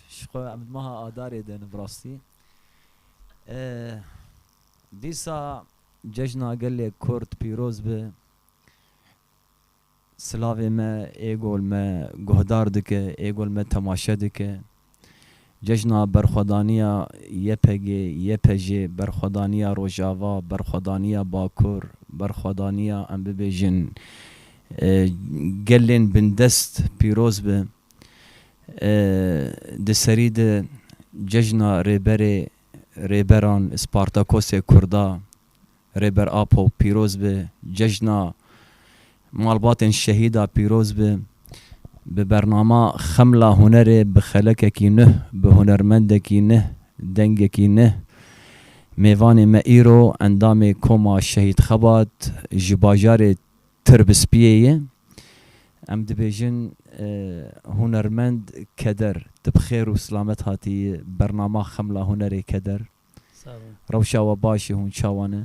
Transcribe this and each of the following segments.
Ji xwe em di meha Adarê de ne bi rastî. Dîsa cejna gelê Kurd pîroz be. Silavê me ê gol me guhdar dike, ê gol me temaşe dike. Cejna berxwedaniya YPG, YPJ, berxwedaniya Rojava, berxwedaniya Bakur, berxwedaniya em bibêjin gelên bindest pîroz be. Di serî de cejna Rêberê Rêberan Spartakosê Kurda Rêber Apo pîroz bi, cejna malbatên şehîda pîroz bi. Bi bernama Xemla Hunerê bi xelekekî nuh, bi hunermendekî nuh, dengekî nuh mêvanê me îro endamê Koma Şehîd Xebat ji bajarê Tir bi spiyê ye. Em dibêjin hunermend keder tu bi xêr û silamet hatî bernama Xemla Hunerê Keder. Rewşa we baş e hûn çawa ne?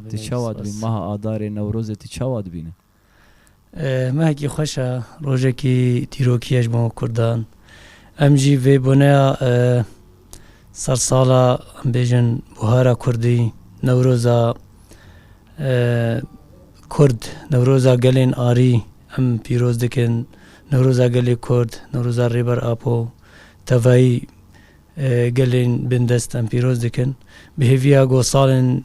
Tu çawa dibîn meha Adarê Newrozê tu çawa dibîne? Mehekî xweş e, rojekî dîrokî ye ji bo kurdan. Em jî vê boneya Ser sala em bêjin buhara kurdî, newroza kurd, newroza gelên arî em pîroz dikin. Newroza gelê kurd, newroza Rêber Apo, tevayî gelên bindest em pîroz dikin. Bi hêviya ku salên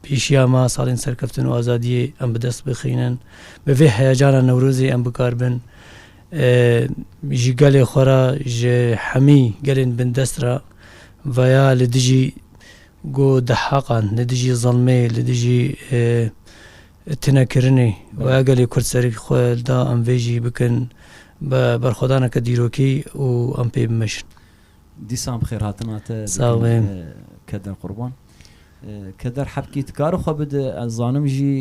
Pêşiya me, salên serkeftin û azadiyê em bi dest bixînin. Bi vê heyecana Newrozê em bikar bin ji gelê xwe re, ji hemî gelên bindest re veya li dijî ku dehaqan, li dijî zilmê, li dijî tinekirinê veya gelê Kurd serî xwe da em vê jî bikin bi berxwedaneke dîrokî û em pê bimeşin. Dîsan bi xêrhatina te dikim. Sağ ol. Kedin qurban. Keder Hepkî dikare xwe bide, ez zanim jî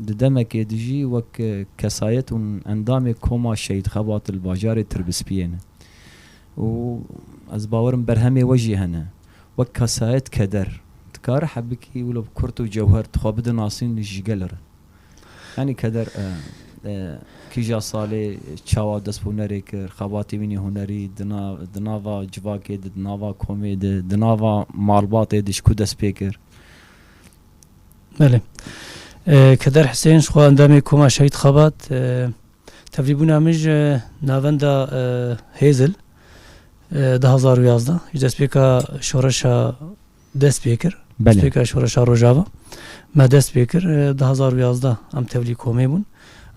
di demekê de jî wek kesayet û endamê Koma Şehîd Xebat li bajarê Tirbispiyê ne û ez bawer im berhemê we jî hene. Wek kesayet Keder dikare Hebikî wilo bi kurt û cewher dixwe bide nasîn ji gel re. Yanî keder kîja salê çawa dest bi hunerê kir, xebatê wî nê hunerî di nava civakê de, di nava komê de, di nava malbatê de ji ku dest pê kir? Belê. Keder Hisên ji xwe endamê Koma Şehîd Xebat. Tevlîbûna min ji navenda Hêzil du hezar û yazdeh ji destpêka şoreşa dest pê kir. Destpêkira Şoreşa Rojava me dest pê kir du hezar û yazdeh em tevlî komê bûn.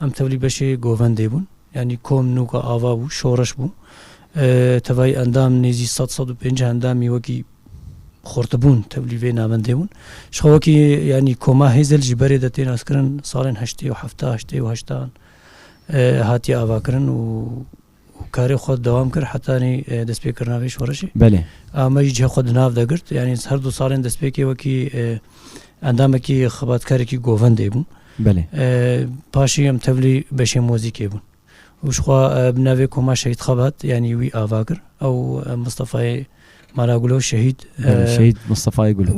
Em tevlî beşê govendê bûn. Yanî kom nûka ava bû, şoreş bû. Tevayî endam nêzî sed sed û pêncî endamî wekî xortibûn tevlî vê navendê bûn. Ji xwe wekî yanî koma hêzil ji berê de tê naskirin salên heştê û hefta, heştê û heştan hatiye avakirin û û karê xwe dewam kir hetanî destpêkirina vê şorişê. Belê. A me jî cihê xwe di nav de girt. Yanî her du salên destpêkê wekî endamekî xebatkarekî govendê bûm. Belê. Paşî em tevlî beşê mozîkê bûn. Û ji xwe bi navê Koma Şehîd Xebat yanî wî ava kir. Ew Mistefayê Mala Gulo şehîd. Şehîd Mistefayê Gulo.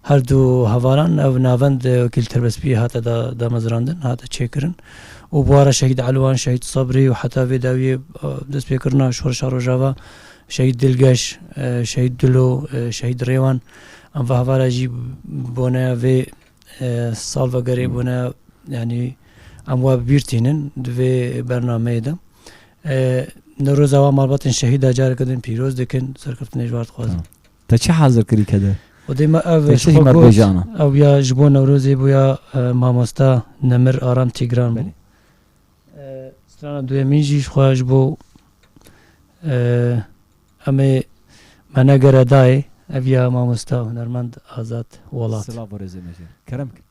Her du hevaran ev navend Wekîl Tirbespiyê hate damezrandin, hate çêkirin û bûara Şehîd Elwan, Şehîd Sabrî û heta vê dawiyê destpêkirina Şoreşa Rojava, Şehîd Dilgeş, Şehîd Dilo, Şehîd Rêwan em va hevara jî bone vê salvegerê bone yanî em wa bi bîr tînin di vê bernameyê de. Newroza wan malbatên şehîda careke din pîroz dikin. Serkeftinê ji wan dixwazin. Te çi hazir kirî kede? Xwedê me ev ji xwe got, ew ya ji bo Newrozê bû ya mamosta Nemir Aram Tîgran bû. Strana duyemîn jî ji xwe ji bo em ê me negere dayê, ev ya mamosta hunermend Azad Welat.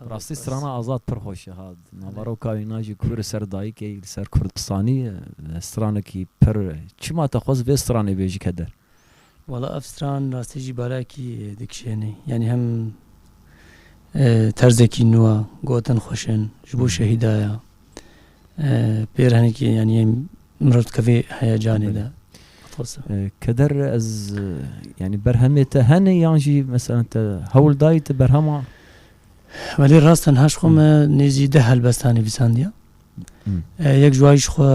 Bi rastî strana Azad pir xweş e ha. Di naveroka wî na jî ku li ser dayikê yî, li ser Kurdistanî ye. Stranekî pir e. Çima te xwest vê stranê bê ji keder? Wala ev stran bi rastî jî balekî dikişêne. Yanî hem terzekî nû e, gotin xweş in, ji bo şehîda ye. pêr henekî yanî mirov dikevê heyecanê de. Keder ez yani berhemê te hene yan jî mesela te hewl dayî te berhema Welê rast tenha ji xwe me nêzî deh helbesta nivîsandiya. Yek ji wayî ji xwe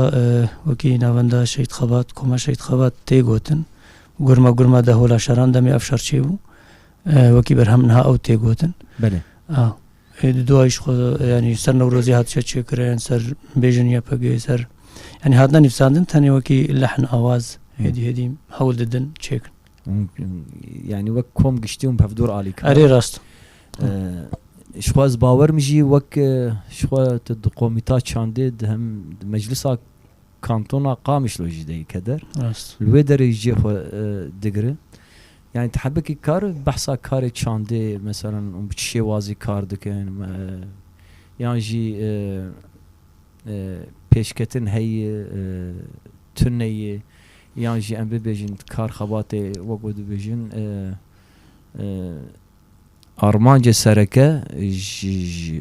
wekî navenda Şehîd Xebat, Koma Şehîd Xebat tê gotin. Gurma gurma de hola şeran demê ev şer çêbû. Wekî berhem niha ew tê gotin. Belê. Êdî duayîş xwe yanî ser Newrozê hatiye çêkirin, ser bêjin YPG'ê ser yanî hatine nivîsandin tenê wekî lehn awaz êdî êdî hewl didin çêkin. Yanî wek kom giştî hûn bi hevdor alî kirin. Erê rast. Ji xwe ez bawer min jî wek ji xwe tu di komîta çandê di hem di meclisa kantona Qamişlo jî de yê keder. Li wê derê jî cê xwe digire. Yanî tehebikî kar behsa karê çandê meselan û bi çi şêwazî kar dikin yan jî pêşketin heye tune ye yan jî em bibêjin kar xebatê wek ku dibêjin armancê sereke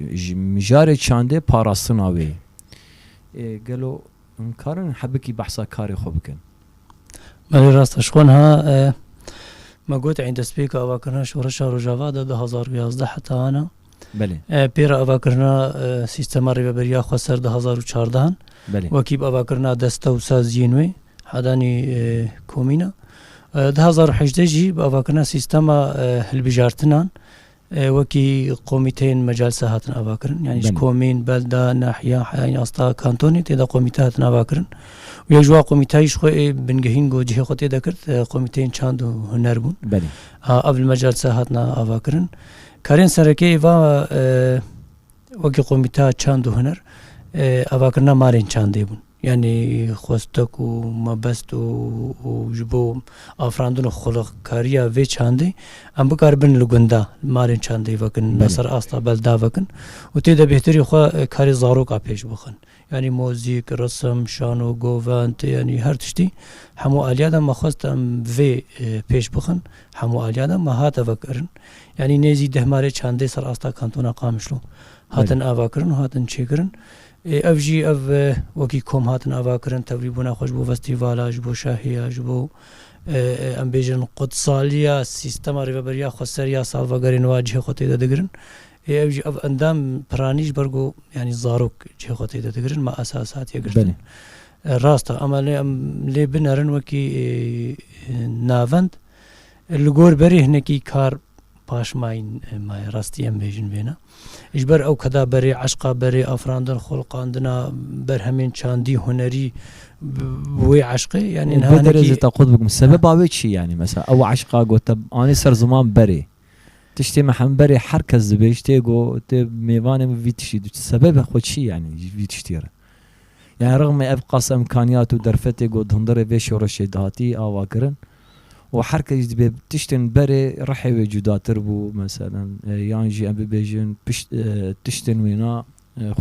ji mijarê çandê parastina wê ye. Gelo hûn karin hebikî behsa karê xwe bikin? Belê rast e, ji xwe niha me got ên destpêka avakirina şoreşa Rojava de du hezar û yazdeh heta ana. Belê. Pêra avakirina sîstema rêveberiya xwe ser du hezar û çardehan. Belê. Wekî bi avakirina deste û saziyên wê hedanî komîna. Du hezar û hejdeh jî bi avakirina sîstema hilbijartinan Wekî komîteyên mecalsa hatin avakirin. Yanî ji komîn, belda, nahiya, heyayên asta, kantonê tê de komîte hatin avakirin. Û yek ji wan komîteyî ji xwe ê bingehîn ku cihê xwe tê de kirt komîteyên çand û huner bûn. Ev li mecalsa hatina avakirin. Karên serekê êva wekî komîteya çand û huner avakirina malên çandê bûn. Yanî xweste ku mebest û ji bo afirandin û xulixkariya vê çandê em bikaribin li gunda malên çandê vekin ya ser asta belda vekin û tê de bêhtirî xwe karê zaroka pêş bixin. Yanî mozîk, risim, şano, govend yanî her tiştî hemû aliya de me xwest em vê pêş bixin hemû aliya de me hate vekirin. Yanî nêzî deh malê çandê ser asta kantona Qamişlo hatin avakirin û hatin çêkirin. Ê ev jî ev wekî kom hatin avakirin tevlîbûna xwe ji bo festîvala, ji bo şahiya, ji bo em bêjin qudsaliya sîstema rêveberiya xweser ya salvegerê nû a cihê xwe tê de digirin. Ê ew jî ev endam piranî ji ber ku yanî zarok cihê xwe tê de digirin ma esas hatiye girtin. Rast e ema lê em lê binerin wekî navend li gor berê hinekî kar, Paş may may rastî em bêjin vêna. Ji ber ew keda berê eşqa berê afirandin xolqandina berhemên çandî hunerî wê eşqê yanî derece te qut bikim sebeba wê çi yanî mesela ew eşqa got te anî ser ziman berê tiştê me hem berê her kes dibê ji tê got tê mêvanê min vî tiştî dû sebebe xwe çi yanî vî tiştî re yani rixmê ev qas imkaniyat û derfetê got hundirê vê şoreşê dihatî avakirin Û her kes dibê tiştên berê rihê wê cudatir bû meselen yan jî em bibêjin pişt tiştên wêna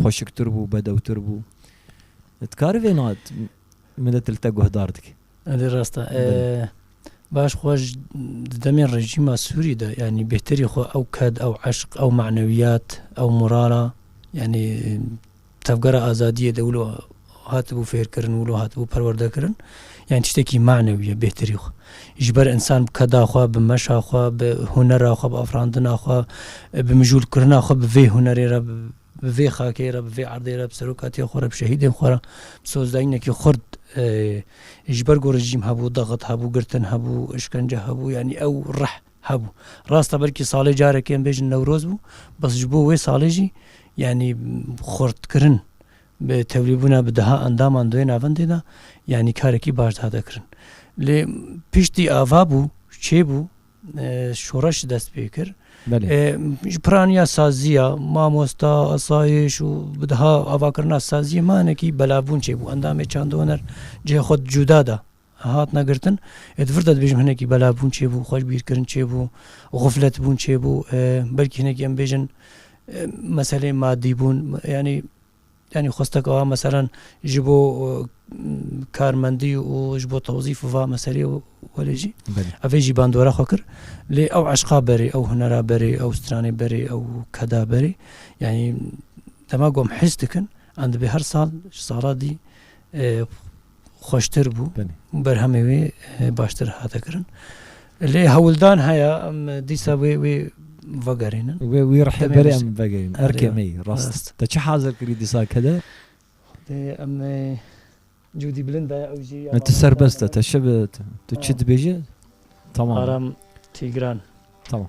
xweşiktir bû, bedewtir bû. Dikarî vêna milet li te guhdar dike. Elê rast e. Baş xwe ji di demên rejîma Sûrî de yanî bêhterî xwe ew ked, ew eşq, ew manewiyat, ew morala yanî Tevgera azadiyê de wilo hatibû fêrkirin, wilo hatibû perwerdekirin, yani tiştekî manewî ye bêhtirî xwe. Ji ber însan bi keda xwe, bi meşa xwe, bi hunera xwe, bi afirandina xwe, bi mijûlkirina xwe bi vê hunerê re, bi vê xakê re, bi vê erdê re, bi serokatiyê xwe re, bi şehîdên xwe re, bi sozdayînekî xurt ji ber ku rejîm hebû, daxit hebû, girtin hebû, işkence hebû, yani ew rih. Hebû. Rast e belkî salê carekê em bêjin Newroz bû, bes ji bo wê salê jî yanî xurtkirin bi tevlîbûna bi deha endaman di wê navendê de yanî karekî baş dihate kirin. Lê piştî ava bû, çê bû, şoreş dest pê kir. Ji piraniya saziya, mamosta, asayiş û bi deha avakirina saziyê manekî belabûn çê bû. Endamê çandoner cihê xwe cuda da. Hatine girtin ê di vir de dibêjim hinekî belabûn çêbû, xweşbîrkirin çêbû, xufletbûn çêbû, belkî hinekî em bêjin meseleyên madî bûn yanî yanî xwesteke wa meselan ji bo karmendî û ji bo tewzîf va meselê welê jî evê jî bandora xwe kir lê ew eşqa berê ew hunera berê ew stranê berê ew keda berê yanî dema gom his dikin em dibê her sal ji sala dî xweştir bû û berhemê wê baştir hate kirin. Lê hewldan heye em dîsa wê wê vegerînin. Wê wî rihê berê em vegerînin. Erkê me yî rast. Te çi hazir kirî dîsa ke de? Em Cûdî bilind e ew jî. Me tu serbest e te şe bi tu çi dibêje? Tamam. Aram Tîgran. Tamam.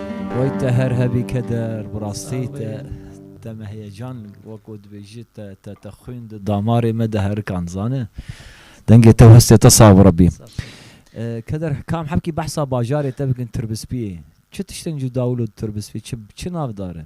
Wey te her hebî keder. Bi rastî te te me heyecan weko dibêjî te te te xwîn di damarê me de herikan zane. Dengê te û hestê te sax bi Rebî. Keder kam hebkî behsa bajarê te bikin Tirbispiyê. Çi tiştên cuda wilo di Tirbispiyê çi çi navdar e?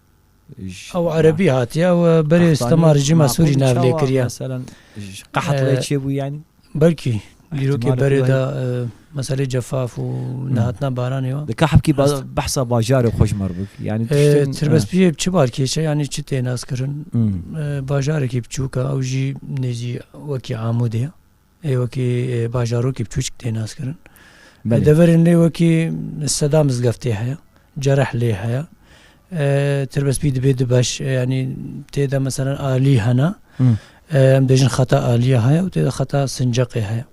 Ew erebî hatiye, ew berê stema rejîma Sûrî navlê kiriye. Belkî dîrokê berê de meselê cefaf û nehatina baranê we. Kaxpkî behsa bajarê xwe ji me re bik. Tirbespiyê bi çi balkêş e yanî çi tê naskirin? Bajarekî biçûk e ew jî nêzî wekî Amûdê ye. Ê wekî bajarokî biçûçik tê naskirin. Li deverên lê wekî seda mizgeftê heye, cereh lê heye. Tirbespî dibê du beş yanî tê de meselen alî hene. Em bêjin xeta alîya heye û tê de xeta sinceqê heye.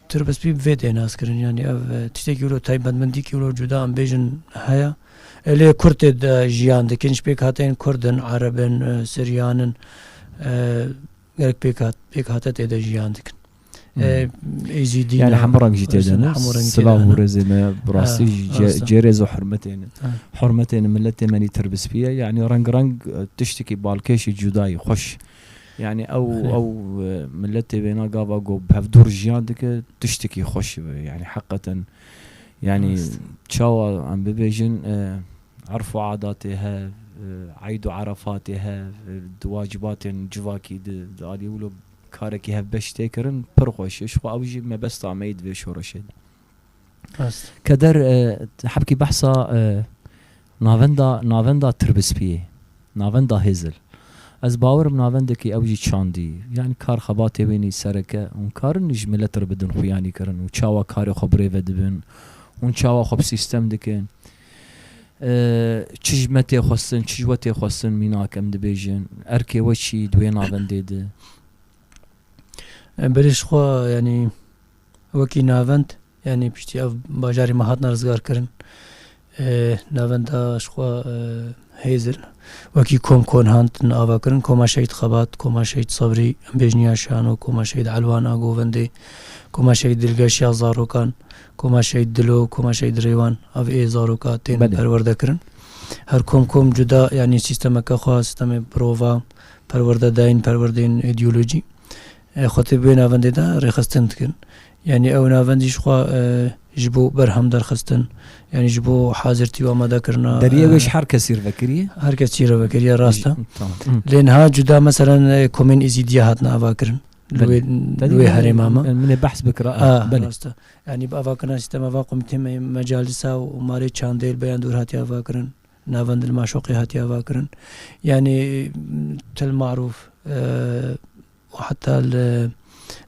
Tirbespî bi vê tê naskirin yanî ev tiştekî wilo taybetmendîkî wilo cuda em bêjin heye. Elê Kurd tê de jiyan dikin ji pêkhateyên Kurd in, Ereb in, Siryan in. Gelek pêk hat, pêk hate tê de jiyan dikin. Êzîdî yani hemû reng jî tê de ne silav û rêzê me bi rastî cê rêz û hurmetê ne hurmetê ne miletê me nî tirbispî ye yanî reng reng tiştekî balkêşî cudayî xweş yanî ew ew miletê wêna gava ku bi hevdûr jiyan dike tiştekî xweş yanî heqeten yanî çawa em bibêjin Erf û adatê hev, eyd û erefatê hev, di wacibatên civakî di di aliyê wilo karekî hevbeş tê kirin pir xweş e. Ji xwe ew jî mebesta me yê di vê şoreşê de. Rast. Keder hebkî behsa navenda navenda tirbispiyê, navenda hêzil. Ez bawerim navendekî ew jî çandî. Yanî kar xebatê wênî sereke. Hûn karin ji milet re bidin xuyanî kirin û çawa karê xwe birêve dibin. Hûn çawa xwe bi sîstem dikin. Çi ji me tê xwestin, çi ji we tê xwestin mînak em dibêjin. Erkê we çi di wê navendê de? Berê ji xwe yanî wekî navend yanî piştî ev bajarê me hatine rizgarkirin navenda ji xwe Hêzir, wekî kom Konhand tune avakirin, Koma Şehîd Xebat, Koma Şehîd Sebrî, Embêjniya Şano, Koma Şehîd Elwan a Govendê, Koma Şehîd Dilgeş ya zarokan, Koma Şehîd Dilo, Koma Şehîd Rêwan a vê ê zaroka tên perwerde kirin. Her kom kom cuda yanî sîstemeke xwe, sîstemê birova, perwerdedayîn, perwerdeyên îdeolojî xwe tê bi wê navendê de rêxistin dikin. Yanî ew navendî ji xwe ji bo berhem derxistin yanî ji bo hazirtî û amadekirina Deriyê wê ji her kesî re vekiriye? Her kesî re vekiriye rast e. Lê niha cuda meselen komên Îzîdiyê hatine avakirin li wê li wê herêma me. Min ê behs bikira a belê. Rast e. Yanî bi avakirina sîstema van komitê me yên Mecalisa û Marê Çandê li Beyan Dûr hatiye avakirin. Navend li Maşoqê hatiye avakirin. Yanî til marûf û heta li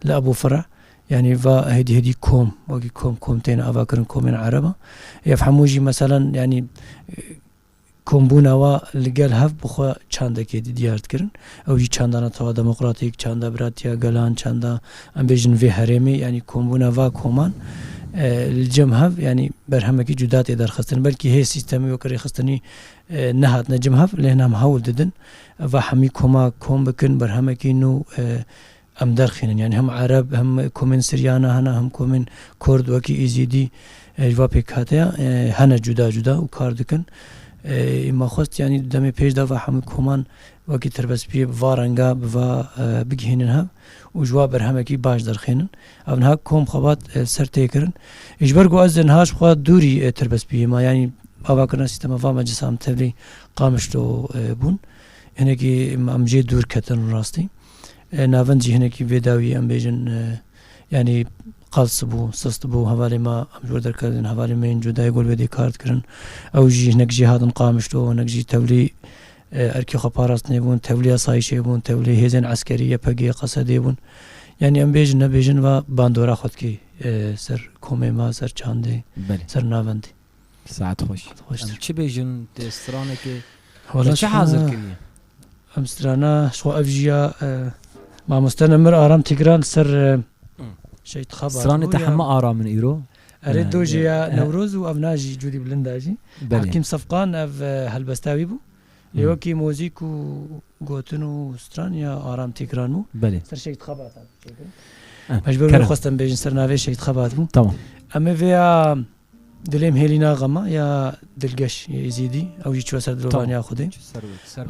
li Ebû Fira yanî va hêdî hêdî kom wekî kom kom tên avakirin komên ereb a. Ev hemû jî meselen yanî kombûna wa li gel hev bi xwe çandekê di diyar dikirin. Ew jî çandana tawa demokratîk, çanda biratiya gelan, çanda em bêjin vê herêmê yanî kombûna va koman li cem hev yanî berhemekî cuda tê derxistin. Belkî hê sîstemê wek rêxistinî Nehatine cem hev lê hina em hewl didin va hemî koma kom bikin berhemekî nû em derxînin yanî hem ereb hem komên siryana hene hem komên kurd wekî êzîdî ji va pêkhateya hene cuda cuda û kar dikin ê ma xwest yanî di demê pêş de va hemî koman wekî tirbespiyê bi va renga bi va bigihînin hev û ji wa berhemekî baş derxînin Ev niha kom xebat ser tê kirin. Ji ber ku ez niha ji xwe dûrî tirbes bûyema yanî avakirina sîstema va meclisa em tevlî qamişlo bûn. Hinekî em jê dûr ketin rastî. Navend jî hinekî vê dawî em bêjin yanî qals bû, sist bû. Hevalê me em ji wir derketin, hevalê me yên cudayê gol wê dê kar dikirin. Ew jî hinek jê hatin qamişlo, hinek jî tevlî Erkê xwe parastnê bûn, tevlî asayîşê bûn, tevlî hêzên eskerî, YPG'ê, QSD'ê bûn. Yanî em bêjin nebêjin va bandora xwe dikê ser komê me, ser çandê, ser navendê. Saet xweş. Em çi bêjin dê stranekê me çi hazir kiriye? Em strana xwe ev jî ya Mamoste Nemir Aram Tîgran li ser Şehîd Xabat. Stranê te heme aram in îro? Erê dojê ya Newroz û ev na jî Cûdî Bilind a jî. Hekîm Sefqan ev helbesta wî bû. Lê wekî mozîk û gotin û stran ya Aram Tîkran bû. Ser Şehîd Xebat hat çêkirin. Ez ji ber wê xwestim bêjin ser navê Şehîd Xebat bû. Em ê vê ya Dilêm hêlî na xema ya Dilgeş yê Êzîdî ew jî çûye ser dilovaniya Xwedê.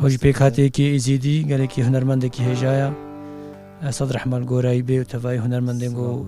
Ew jî pêk hate yekê Êzîdî gelekî hunermendekî hêja ya. Sadrehman Gorayî bê û tevayî hunermendên ku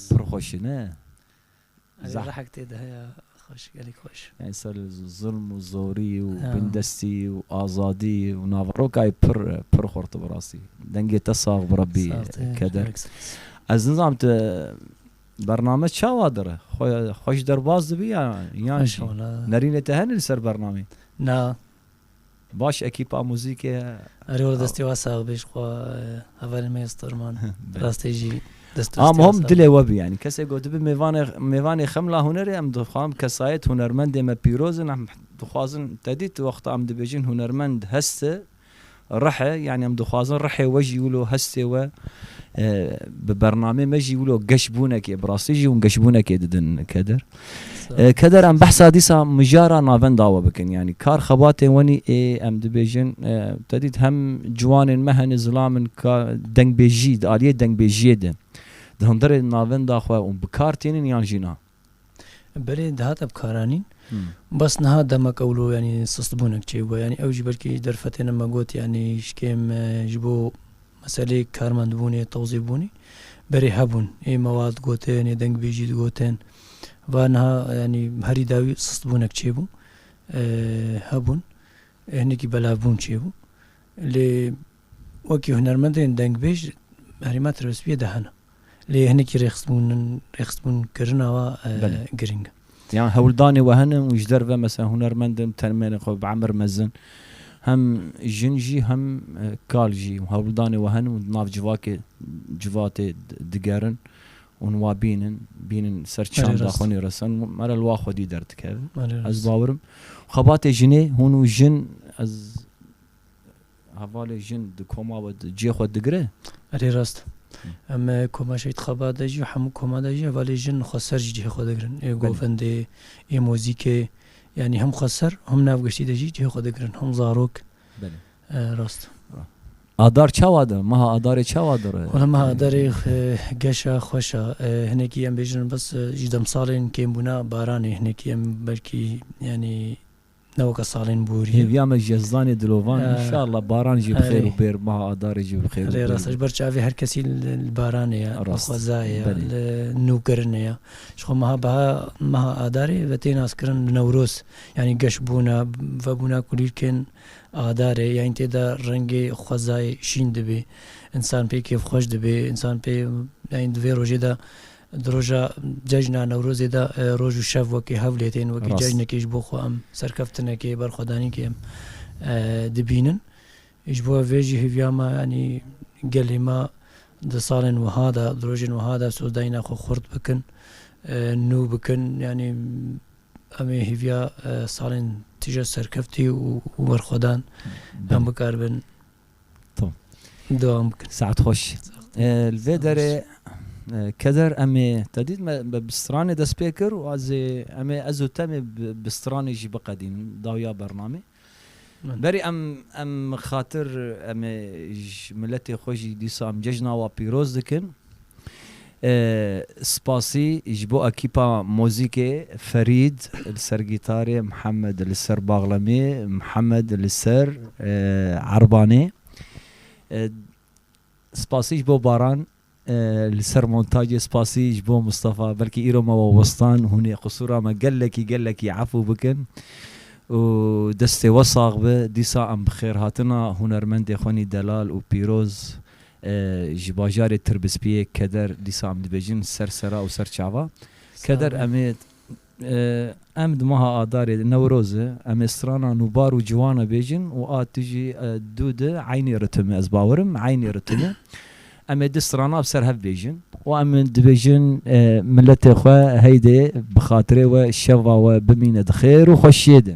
Pir xweş e ne? Zah- Rehek tê de heye xweş gelek xweş. Yani ser zulm û zorî û Ya. bindestî û azadî û naverokayê pir pir xurt bi rastî. Dengê te sax bi Rabbî Sağ te, keder. gelek spas. Ez nizanim tu bername çawa dir e? Xwe xweş derbas dibî ya yan Xweş jî? wala. Nerînê te hene li ser bernamê? Na, Baş ekîpa muzîkê ye. Erê wele destê we sax bê ji xwe hevalên me ya Storman rastî jî dest û stê we sax bê. Dilê we bî yanî kesê ku dibe mêvanê Xemla Hunerê em dixwam kesayet hunermendê me pîroz in em dixwazin tedî tu wexta em dibêjin hunermend hest e Rihe, yanî em dixwazin rihê we jî wilo hestê we bi bernameyê me jî wilo geşbûnekê bi rastî jî hûn geşbûnekê didin Keder. Keder em behsa dîsa mijara navenda we bikin yanî kar xebatên we nî ê em dibêjin te dît hem ciwanên me hene zilam in ka dengbêjî di aliyê dengbêjiyê de di hundirê navenda xwe û bi kar tênin yan jî na. Belê dihate bikaranîn. Bes niha demek ewlo yanî sistbûnek çêbû. Yanî ew jî belkî derfetê ne me got yanî ji kêm ji bo meseleyê karmendbûnê, tewzîfbûnê berê hebûn. Ê mewal digotin, ê dengbêjî digotin. Va niha yanî herî dawî sistbûnek çêbû. Hebûn. Hinekî belavbûn çêbû. Lê. Wekî hunermendên dengbêj herêma Tirbespiyê de hene. Lê hinekî rêxisbûn in, rêxisbûn kirina we girîng e. Yan hewldanê we hene û ji derve mesela hunermend in termênên xwe bi emir mezin hem jin jî hem kal jî hewldanê we hene û di nav civakê civatê digerin û wa bînin bînin ser çanda xwe nê resan û mere li wa xwedî derdikeve. Ez bawer im xebatê jinê hûn û jin ez. Hevalê jin di koma we de cihê xwe digire? Erê rast. Em koma Şehîd Xaba de jî û hemû koma de jî hevalê jin xweser jî cihê xwe digirin. Ê govendê, ê mozîkê yanî him xweser him nav giştî de jî cihê xwe digirin. Him zarok. Rast. Adar çawa dir? Meha Adarê çawa dir? Wala meha Adarê geş a, xweş a. Hinekî em bêjin bes ji demsalên kêmbûna baranê hinekî em belkî yanî Ne weke salên borî ye. Hêviya me ji Yezdanê dilovan înşallah baran jî bi xêr û bêr meha adarê jî bi xêr û bêr. Erê rast e ji ber çavê her kesî li baranê ye, li xwezayê ye, li nûkirinê ye. Ji xwe meha beha meha adarê ve tê naskirin bi newroz yanî geş bûna vebûna kulîlkên adarê yanî tê de rengê xwezayê şîn dibê. Însan pê kêfxweş dibê, însan pê yanî di vê rojê de Di roja cejna Newrozê de roj û şev wekî hev lê tên, wekî cejnekê ji bo xwe em serkeftinekê, berxwedanînkê em dibînin. Ji bo vê jî hêviya me yanî gelê me di salên wiha de, di rojên wiha de sozdayîna xwe xurt bikin, nû bikin. Yanî em ê hêviya salên tije serkeftî û berxwedan em bikaribin. Tom. Dewam bikin. Saet hoş. Li vê derê keder em ê te dît me bi stranê dest pê kir û ez ê em ê ez û te em ê bi stranê jî biqedînin dawiya bernamê. Berî em em xatir em ê ji miletê xwe jî dîsa em cejna wa pîroz dikin. Spasî ji bo ekîpa mozîkê, Ferîd li ser gîtarê, Mihemed li ser baxlemê, Mihemed li ser erbanê. Spasî ji bo Baran li ser montacê, spasî ji bo Mistefa, belkî îro me we westan, hûn ê qisûra me gelekî gelekî efû bikin û destê we sax be. Dîsa em bi xêrhatina hunermendê Xwenî Delal û Pîroz, Ji bajarê Tirbispiyê keder dîsa em dibêjin ser sera û ser çava. Keder em ê em di meha adarê Newrozê em ê strana nûbar û ciwan e bêjin û a tu jî dû di eynî ritimi ez bawerim eynî ritimi em ê di strana bi ser hev bêjin û em dibêjin miletê xwe heydê bi xatirê we şeva we bimîne di xêr û xweşiyê de.